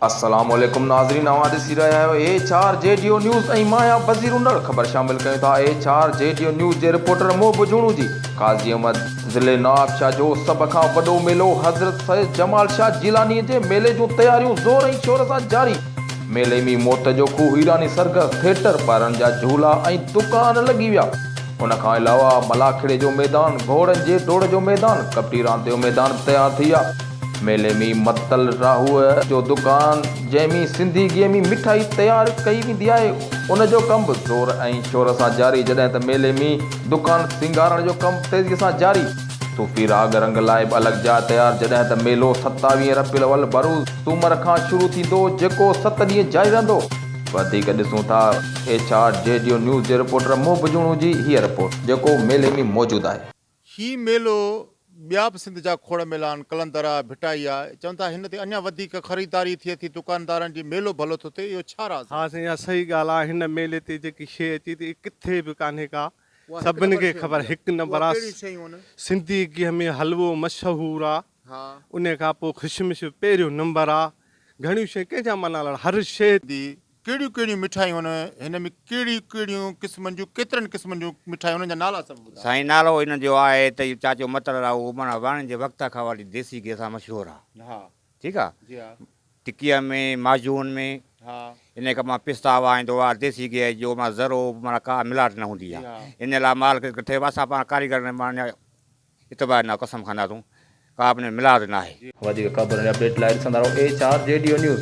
السلام عليڪم ناظرين اوهان ڏسي رهيا آهيو ايڇ آر جيڊيو نيوز ۽ مان اها بصير انڙ خبر شامل ڪيون ٿا ايڇ آر جيڊيو نيوز جي رپورٽر محب جوڻو جي قاضي احمد ضلعي نوابشاهه جو سڀ کان وڏو ميلو حضرت سيد جمال شاهه جيلاني جي ميلي جون تياريون زور ۽ شور سان جاري، ميلي ۾ موت جو کوهه هيراني سرگس ٿيٽر ٻارن جا جهولا ۽ دڪان لڳي ويا. ان کان علاوه ملاکڙي جو ميدان، گهوڙن جي ڊوڙ جو ميدان، ڪٻٽي راند جو ميدان به تيار ٿي ويا. ميلي ۾ متل راهوء جو دڪان جنهن ۾ سنڌي گيهه ۾ مٺائي تيار ڪئي ويندي آهي، ان جو ڪم به زور ۽ شور سان جاري، جڏهن ته ميلي ۾ دڪان سينگارڻ جو ڪم تيزيء سان جاري. صوفي راڳ رنگ لاء به الڳ جاء تيار، جڏهن ته ميلو ستاويهه ربيع الاول، بروز، سومر کان شروع ٿيندو، جيڪو ست ڏينهن جاري رهندو. وڌيڪ ڏسون ٿا ايڇ آر جي ڊيو نيوز جي رپورٽر محب جوڻو جي هيء رپورٽ جيڪو ميلي ۾ موجود آهي. هي ميلو ٻيا به سنڌ جا کوڙ ميلا آهن قلندر آهي ڀٽائي آهي چون ٿا هن تي اڃان وڌيڪ خريداري ٿئي ٿي دڪاندارن جي ميلو ڀلو ٿو ٿئي اهو ڇا راز آهي. ها سائين اها صحيح ڳالهه آهي هن ميلي تي جيڪي شئي اچي ٿي اها ڪٿي به ڪانهي ڪا سڀني کي خبر هڪ نمبر آهي سنڌي گيهه ۾ حلوو مشهور آهي انهي کان پوء خشمش پهريون نمبر آ گهڻيون شين ڪنهن جا معنيٰ لڙ هر شي. دي ڪهڙيون ڪهڙيون مٺايون آهن هن ۾ ڪهڙيون ڪهڙيون قسمن جون ڪيترن قسمن جون مٺايون انهن جا نالا سڀ ٻڌايو. سائين نالو انهن جو آهي ته اهو چاچو متل آ اهو معنيٰ واڻين جي وقت کان وٺي ديسي گيهه سان مشهور آ ٺيڪ آ ٽڪيء ۾ ماجون ۾ انهي کان پوء پستا وهائيندو آ ديسي گيهه جو معنيٰ ذرو به معنيٰ ڪا ملاوٽ نه هوندي آ انهي لاء مال ڪري ڪٺي اسان پاڻ ڪاريگر معنيٰ اعتبار نه قسم خانه تون ڪابه نه ملاد ناهي. وڌيڪ خبرن يا اپڊيٽ لاء ڏسندا رهو ايڇ آر جي ڊيو نيوز.